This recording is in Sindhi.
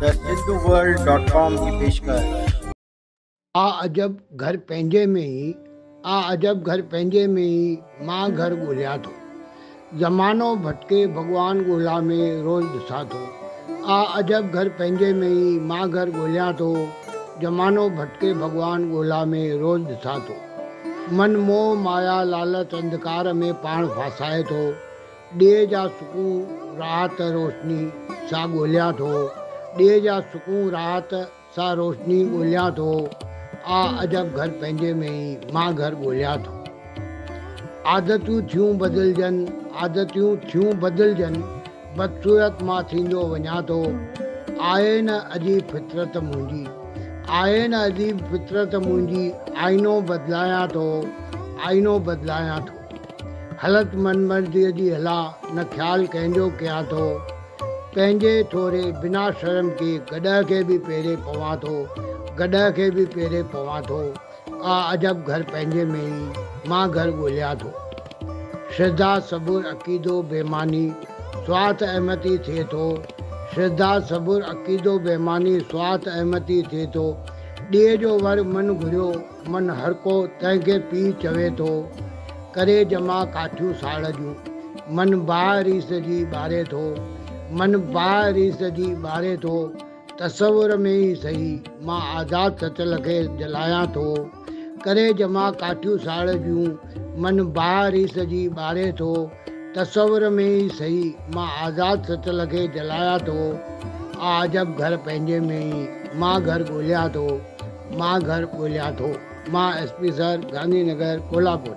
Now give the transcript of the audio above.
ته سنڌو ورلڊ ڊاٽ ڪام جي پيشڪش. آ عجب گهر پنهنجي ۾ ئي آ عجب گهر پنهنجي ۾ ئي مان گهر ڳوليان ٿو زمانو ڀٽڪي ڀڳوان ڳولا ۾ روز ڏسان ٿو آ عجب گهر پنهنجي ۾ ئي مان گهر ڳوليان ٿو زمانو ڀٽڪي ڀڳوان ڳولا ۾ روز ڏسان ٿو من موهه مايا لالچ انڌڪار ۾ پاڻ ڦاسائي ٿو ڏيهه جا سڪون، راحت، روشني سان ڳوليان ٿو، ڏيهه جا سڪون، راحت، سان روشني ڳوليان ٿو، آ عجب گهر پنهنجي ۾ ئي، مان گهر ڳوليان ٿو. عادتيون ٿيون بدلجن، عادتيون ٿيون بدلجن، بدصورت مان ٿيندو وڃان ٿو، آهي نه عجيب فطرت منهنجي، آهي نه عجيب فطرت منهنجي، آئينو بدلايان ٿو، آئينو بدلايان ٿو. هلت من مرضيء جي هلاء نه خيال ڪنهن جو ڪيان ٿو پنهنجي ٿوري بنا شرم ڪي گڏهه کي به پيري پوان ٿو گڏهه کي به پيري پوان ٿو آ عجب گهر پنهنجي ۾ ئي مان گهر ڳوليان ٿو شرڌا صبر عقيدو بيماني سوات احمتي ٿئي ٿو شرڌا صبر عقيدو بيماني سوات احمتي ٿئي ٿو ڏيهه جو ور من گهريو من هرڪو تنهنکي پيء چوي ٿو. ڪري ڄما ڪاٺيون ساڙ جون. من باهه ريس جي ٻاري ٿو. من باهه ريس جي ٻاري ٿو. تصور ۾ ئي سهي مان آزاد سچل کي جلايان ٿو. ڪري ڄما ڪاٺيون ساڙ جون. من باهه ريس جي ٻاري ٿو. تصور ۾ ئي سهي مان آزاد سچل کي جلايان ٿو. آ عجب گهر پنهنجي ۾ ئي مان گهر ڳوليان ٿو. مان گهر ڳوليان ٿو. مان S P sir Gandhinagar Kolhapur.